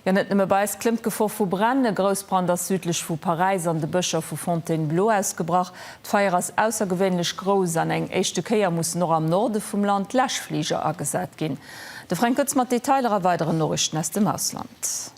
Jo, net nëmme bei eis klëmmt d'Gefor vu Bränn. E Groussbrand ass südlech vu Paräis an de Bëscher vu Fontainebleau ausgebrach. D'Feier ass aussergewéinlech grouss an eng éischte Kéier mussen och am Norde vum Land Läschfliger agesat ginn. De Fränk Goetz mat Detailer a weideren Noriichten aus dem Ausland.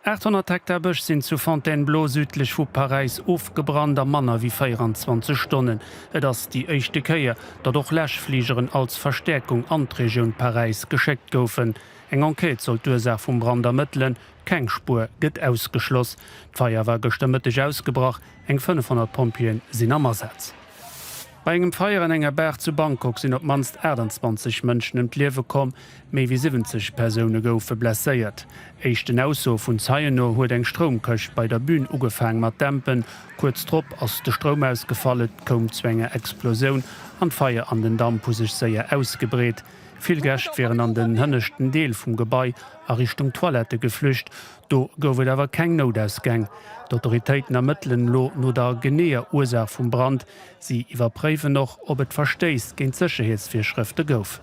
800 Hektar Bësch sinn zu Fontainebleau südlech vu Paräis ofgebrannt a manner wéi 24 Stonnen. Et ass déi éischte Kéier, datt och Läschfligeren als Verstäerkung an d'Regioun Paräis geschéckt goufen. Eng Enquête soll d'Ursaach vum Brand ermëttelen, keng Spuer gëtt ausgeschloss. D'Feier war gëschter Mëtteg ausgebrach, eng 500 Pompjeeë sinn am Asaz. Bei engem Feier an enger Bar zu Bangkok sinn op d'mannst 28 Mënschen ëm d'Liewe komm, méi wéi 70 Persoune goufe blesséiert. Éischten Aussoe vun Zeien no huet eng Stroumkëscht bei der Bün ugefaang mat dämpen. Kuerz drop ass de Stroum ausgefall, et koum zu enger Explosioun an d'Feier an den Damp hu sech séier ausgebreet. Vill Gäscht wieren an den hënneschten Deel vum Gebai a Richtung Toilette geflücht. Do gouf et awer keng Noutausgäng. D'Autoritéiten ermëttelen elo no der geneeër Ursaach vum Brand. Si iwwerpréiwen och, ob et Verstéiss géint d'Sécherheetsvirschrëfte gouf.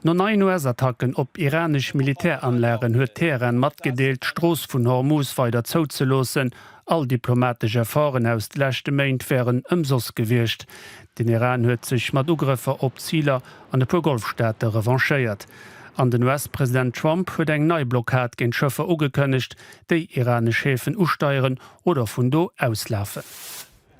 No neien US-Attacken op iranesch Militäranlagen huet Teheran matgedeelt, d'Strooss vun Hormuz weider zou ze loossen. All diplomatesch Efforten aus de leschte Méint wären ëmsoss gewiescht. Den Iran huet sech mat Ugrëffer op Ziler an e puer Golfstaate revanchéiert. An den US-President Trump huet eng nei Blockad géint Schëffer ugekënnegt, déi iranesch Häfen usteieren oder vun do auslafen.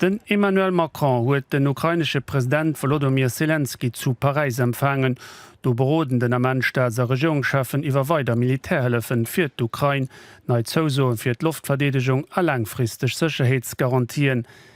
Den Emmanuel Macron huet den ukrainesche President Wolodymyr Selenskyj zu Paräis empfaangen. Do beroden den Ament Staats a Regierungscheffen iwwer weider Militärhëllefen fir d'Ukrain, nei Zousoen fir d'Loftverdeedegung a laangfristeg Sécherheetsgarantien.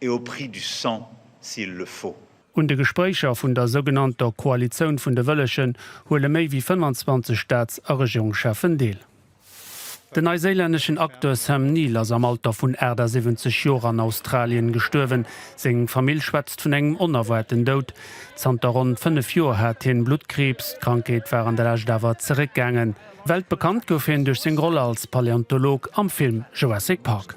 et au prix du sang s'il le faut. Un de Gespréicher vun der sougenannter Koalitioun vun de Wëllegen huele méi wéi 25 Staats a Regierungscheffen deel. Den neiséilänneschen Acteur Sam Neill ass am Alter vun 78 Joer an Australien gestuerwen. Seng Famill schwätzt vun engem onerwaarten Doud. Zanter ronn 5 Joer hat hien Bluttkriibs. D'Krankheet war an der Lescht awer zeréckgaangen. Weltbekannt gouf hien duerch seng Roll als Paleontolog am Film Jurassic Park.